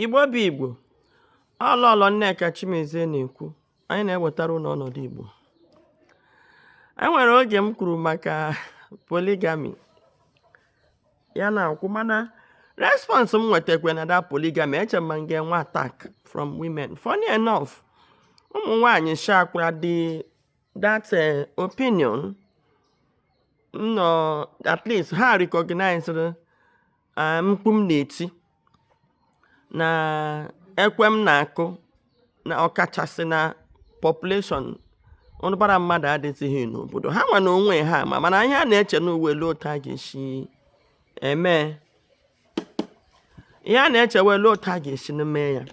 Igbo bụ Igbo, ọ Lọlọ Nneka Chimezie na-ekwu, anyị na-ewetara unu ọnọdụ Igbo. E nwere oge m kwuru maka polygamy ya na-akwụ mana response m nwetakwa na that polygamy eche m na m ga-enwe attack from women funny enough ụmụ nwanyị shakwara the that eh, opinion no at least ha recognizeri Ah, mkpu m na-eti na ekwe m na-akụ na ọkachasị na population ụbara mmadụ adịzighị n'obodo ha nwa n'onwe ha ma mana ihe a na-eche nụ wụ olee otu a ga-esi eme ihe a na-eche wụ olee otu a ga-esi na mee ya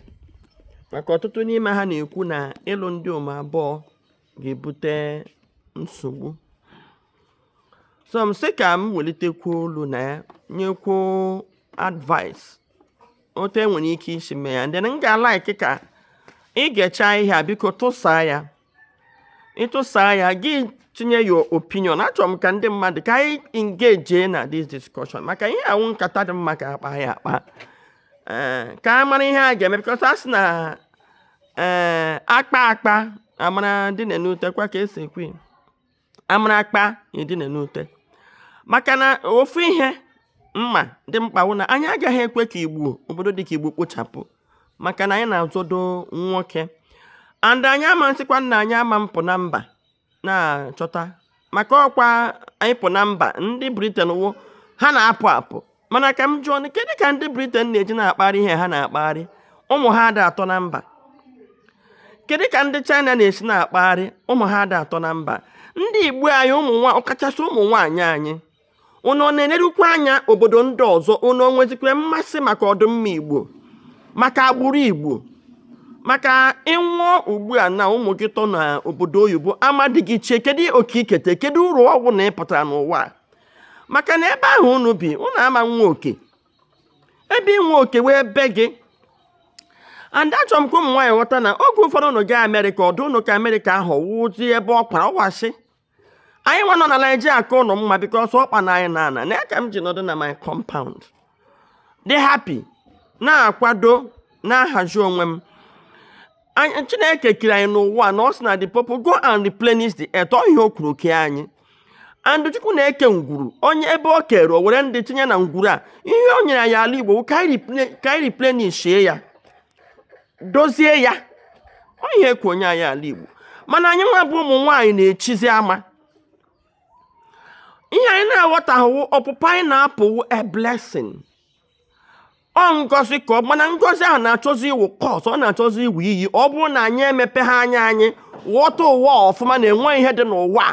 maka ọtụtụ n'ime ha na-ekwu na ịlụ ndịom abụọ ga-ebute nsogbu so m sị ka m welitekwu olu na ya nyekwu advice otu e nwere ike isi mee ya then m ga-alaiki ka ị gechaa ihe a biko tụsaa ya ị tụsaa ya gị tinye your opinion achọrọ m ka ndị mmadụ ka anyị engage na this discussion maka ihe a wụ nkata dị mma ka a kpaa ya akpa eh, ka a mara ihe a ga-eme because a sị na eh, a kpaa akpa a mara dinee n'ute kwa ka e si ekwu a mara akpa e dinee n'ute maka na ofu ihe m ma dị mkpa wụ na anyị agaghị ekwe ka igbo obodo dị ka igbo kpochapụ maka na anyị na-azọdo nwoke and anyị ama nsịkwa na anyị ama mpụ na mba na-achọta maka ọkwa ịpụ na mba ndị Britain wụ ha na-apụ apụ mana ka m jụọ kedu ka ndị Britain na-eji na-akparị ihe ha na-akparị ụmụ ha ada atọ na mba kedu ka ndị China na-esi na-akparị ụmụ ha ada atọ na mba ndị igbo anyị ụmụ ọkachasị ụmụ nwaanyị anyị unu ọ na-elerukwa anya obodo ndị ọzọ unu o nwezikwa mmasị maka ọdịmma igbo maka agbụrụ igbo maka ị nwụọ ugbu a na ụmụ gị tọ na obodo oyibo ama di gị chie kedu oke i kete kedu uru ọ wụ na ị pụtara n'ụwa a? maka na ebe ahụ unu bi unu ama nwe oke ebe i nwe oke wụ be gị and achọrọ m ka ụmụ nwaanyị ghọta na oge ụfọdụ unu gaa amerịka ọ dụ unu ka amerịka ahụ wụzi ebe ọ kwara ọ wụ asị anyị nwa nọ na Naịjirịa ka unu mma because ọkpa na anyị na-ana na ya ka m ji nọdụ na my compound dị happy na-akwado na-ahazi onwe m Anyị- chineke kere anyị n'ụwa na ọ sị na the people go and replenish the earth ọ ihe o kwuru ke anyị and chukwu na-eke ngwuru onye ebe o kere o were ndị tinye na ngwuru a ihe o nyere anyị ala igbo ka anyị replen- ka anyị replenishie ya dozie ya ọ ihe ekwu onye anyị ala Igbo mana anyị nwa bụ ụmụ nwaanyị na-echizi ama ihe anyị na-aghọtahụ ọpụpụ anyị na-apụ wụ a blessing ọ ngozi ka ọ mana ngozi ahụ na-achọzi ịwụ curse ọ na-achọzi ịwụ iyi ọ bụrụ na anyị emepeha anya anyị ghọta ụwa ọfụma na e nwe ihe dị n'ụwa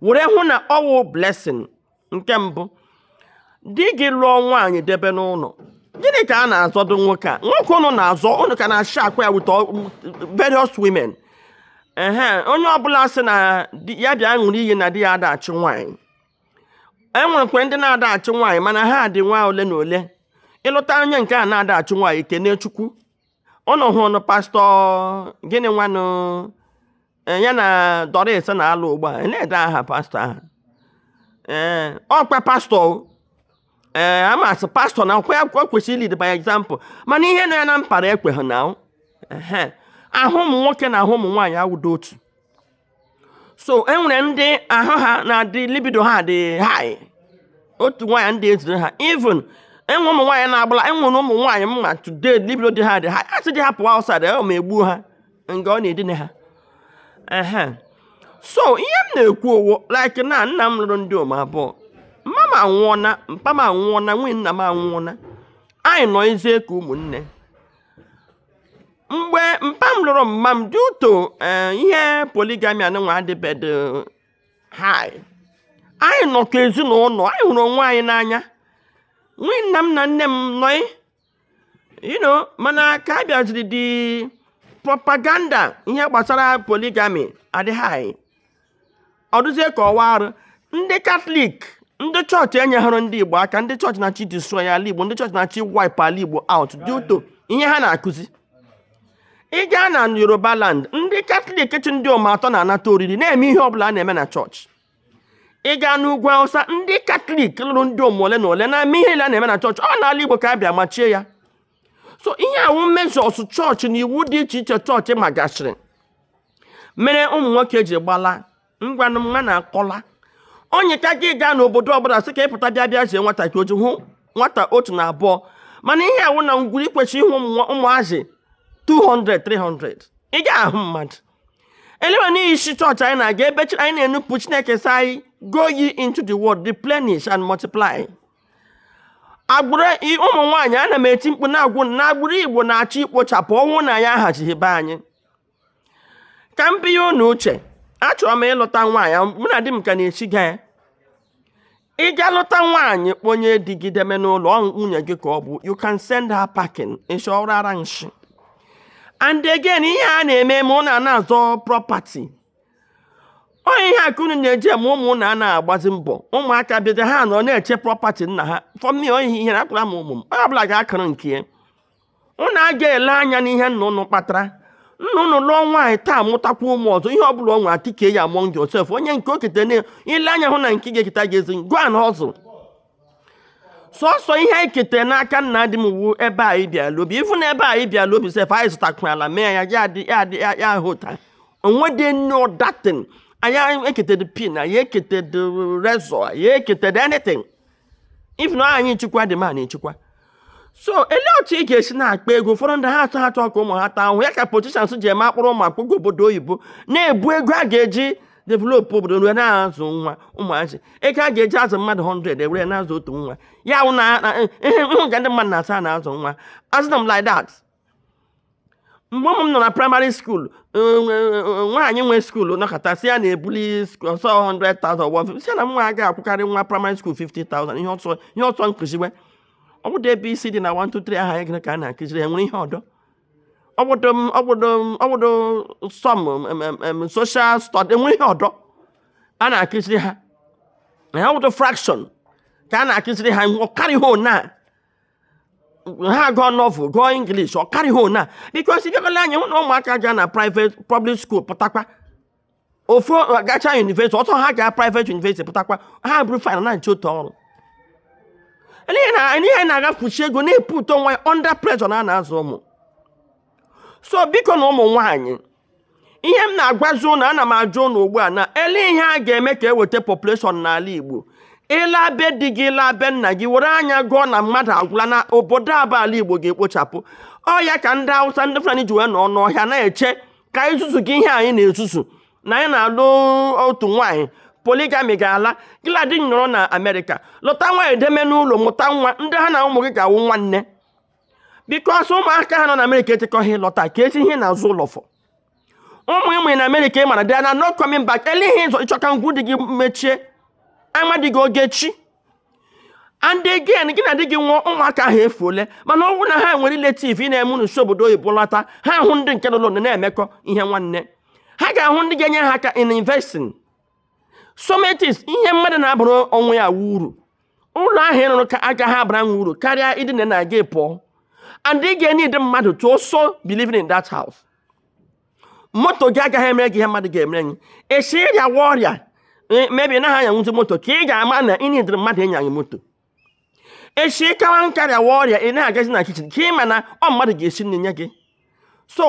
were hụ na ọ wụ blessing nke mbụ di gị lụọ nwaanyị debe n'ụlọ gịnị ka a na-azọdo nwoke a nwoke ụnụ na-azọ ụnụ ka na-ashare kwa ya with various women ehe onye ọbụla sị na ya bịa ṅụrụ iyi na di ya adịghị achụ nwaanyị e nwerekwa ndị na-adịghị achụ nwaanyị mana ha dị nwa ole na ole ị lụta onye nke na-adịghị achụ nwaanyị kene chukwu ụnụ hụrụ pastọ gịnị nwanụ Eh, ya na Doris na-alụ ugbu a ndee aha pastọ ahụ ee eh, ọkwa pastọ ee eh, a ma sị pastọ na ọkwa ya kwesịrị lead by example mana ihe nọ ya na mpara ekweghị na ahụ ụmụ nwoke na ahụ ụmụ nwaanyị awụdo otu so e nwere ndị ahụ ha na-adị libido ha dị high otu nwaanyị adị ezuru ha even e nwe ụmụ nwaanyị na-agbala e nwere ụmụ nwaanyị m ma today libido di ha dị high a sị di ha pụwa outside ọ ma egbuo ha nga ọ na-edina ha ehe so ihe m na-ekwu ọ wụ like na nna m lụrụ ndom abụọ mma m anwụọna mpa m anwụọna nwunye nna m anwụọna anyị nọzi ka ụmụnne mgbe mpa m lụrụ mma m due to eh, ihe polygamy anụnwa adịbedị high anyị nọ ka ezinụlọ anyị hụrụ onwe anyị n'anya nwunye nna m na nne m nọị you know mana ka a bịaziri dị propaganda ihe gbasara polygamy adị high ọ dịzie ka ọ wụ arụ ndị katọlik ndị chọọchị enyeghara ndị igbo aka ndị chọọchị na-achọ idestroy ala igbo ndị chọọchị na-achọ iwipe ala igbo out due to ihe ha na-akụzi ị gaa na yoruba land ndị katọlik chị ndom atọ na-anata oriri na-eme ihe ọbụla a na-eme na chọọchị ị gaa n'ugwu awụsa ndị katọlik lụrụ ndom ole na ole na-eme ihe a na-eme na chọọchị ọ n'ala igbo ka a bịa machie ya so ihe a wụ measures chọọchị na iwu dị iche iche chọọchị magasịrị mere ụmụ nwoke ji gbala ngwanụ mma na akọla onye ka gị gaa n'obodo ọbụla sị ka ị pụta bịa bịa zie nwata ka o ji hụ nwata otu na abụọ mana ihe a wụ na ngwuru i kwesịrị ịhụ ụmụ- ụmụazị 200 300 ị ga-ahụ mmadụ elewe n'ihi isi chọọchị anyị na-aga ebe chi- anyị na-enupụ chineke sị anyị go ye into the world replenish and multiply agbụrụ i- ụmụ nwaanyị ana m eti mkpu na-agwa unu na agbụrụ igbo na-achọ ikpochapụ ọ wụ na anyị ahazighị be anyị ka m binye unu uche achọrọ m ịlụta nwaanyị mụ na di m ka na-esiga ya ị ga lụta nwaanyị kponye di gị deme n'ụlọ ọ nwunye gị ka ọ bụ you can send her packing ịchọrọ ara nshi and again ihe a na-eme ma ụnụ ana-azọ property ọ ihe a ka unu na-eji eme ụmụ ụnụ ana-agbazi mbọ ụmụaka bịaja ha nọ na-eche property nna ha for me ọ ihe ihere agwara m ụmụ m onye ọbụla ga-akụrụ nke ya unu agaghị ele anya n'ihe nna unu kpatara nna unu lụọ nwaanyị taa mụtakwa ụmụ ọzọ ihe ọbụla ọ nwere akike ya among yourself onye nke o kete na-ele anya hụ na nke ga-eketa agaghị ezu go and hustle sọsọ ihe anyị ketere n'aka nna di m wu ebe anyị bịala obi even na ebe anyị bịala obi sef anyị zụtakwara ala mee ya ahụ ụta o nwedị any other thing anyị eketedo pin anyị eketedo razor anyị eketedo anything even na anyị chịkwa dị ma na-echekwa so elee otu ị ga-esi na-akpa ego ụfọdụ ndị ha atụ ha chọọ ka ụmụ ha taa ahụhụ ya ka politicians ji eme akpụrụ ụmụ ha akpụga obodo oyibo na-ebu ego a ga-eji developụ obodo were na-azụ nwa ụmụazị ego a ga-eji azụ mmadụ 100 ewere na-azụ otu nwa ya wụ na ị hụ ka ndị mmadụ na-asị na-azụ nwa azụna m like that mgbe ụmụ m nọ na primary school nwaanyị nwe school nọkata sị ya na-ebuli ọsọ 100,000 sị ya na nwa agaghị akwụkarị nwa primary school 50,000 ihe ọ sọ kụziwe ọ bụdị abcd na 123 aha ya gịnị ka a na-akụziri enwere ihe ọdọ ọ bụdụ some social study enwere ihe ọdọ a na-akụziri ha na ya ọ bụdụ fraction ka a na-akụziri ha ọ karịghị ona ha gụọ novel gụọ english ọ karịghị ona because ị bịakwa lee anya hụ na ụmụaka ga na private public school pụtakwa ofu gacha university ọ sọ ha ga private university pụtakwa ha buru file na-achọ otu ọrụ ihe na-agafusi ego na-eputu onwe ya under pressure na a na-azụ ụmụ so biko na ụmụ nwaanyị ihe m na-agwazi ụnụ ana m ajụ ụnụ ugbu a na ele ihe a ga-eme ka eweta population n'ala Igbo ị laa be di gị ị laa be nna gị were anya gụọ na mmadụ agwụla na obodo a bụ ala Igbo ga-ekpochapụ ọ ya ka ndị Hausa ndị Fulani ji wee nọ n'ọhịa na-eche ka anyị zuzugide ihe anyị na-ezuzu na anyị na-alụ otu nwaanyị polygamy ga-ala gị na di nọrọ na Amerịka lụta nwaanyị deme n'ụlọ mụta nwa ndị ha na ụmụ gị ga-awụ nwanne because ụmụaka ha nọ na amerịka echekọghị ịlọta ka esi ihe na-azụ ụlọfọ ụmụ ị mụ na amerịka ị maradị na no coming back ele ihe ị chọ ka ngwuru di gị mechie ama di gị ọ ga-echi and again gị na di gị nwụọ ụmụaka ahụ efuole mana ọ bụrụ na ha nwere relative n'ime ụlọ si obodo oyibo lọta ha hụ ndị nke nọ n'ụlọ na-emekọ ihe nwanne ha ga-ahụ ndị ga-enye ha aka in investing sometimes ihe mmadụ na-abụrụ onwe ya wu uru ụlọ ahụ ị rụrụ ka agaghị abara nwa uru karịa ịdina na gị pụọ and ị ga-eneed mmadụ to also be living in that house moto gị agaghị emere gị ihe mmadụ ga-emere gị esi ị rịawa ọrịa e, maybe ị naghị anyanwuzi moto ka ị ga-ama na ị needịrị mmadụ ịnya gị moto esi ị kawa nka rịawa ọrịa ị na-agazi na kitchen ka ị ma na ọ mmadụ ga-esi nri nye gị so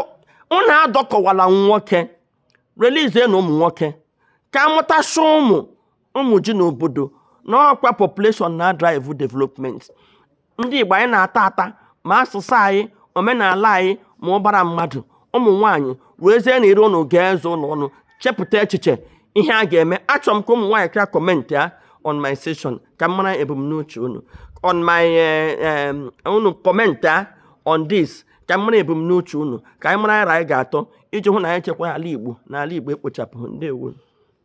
unu adọkọwala nwoke releasenụ ụmụ nwoke ka a mụtasị ụmụ ụmụ ji n'obodo na ọ kwa population na drive development ndị Igbo anyị na-ata ata ma asụsụ anyị omenala anyị ma ụbara mmadụ ụmụ nwaanyị wezienụ ire unu gụọ eze unu ọnụ chepụta echiche ihe a ga-eme achọrọ m ka ụmụ nwaanyị kara commentịa on my session ka m mara ebumnuche unu on my eh, unu commentịa on this ka m mara ebumnuche unu ka anyị mara aro anyị ga-atụ iji hụ na anyị chekwa ala Igbo na ala Igbo ekpochapụ ndewo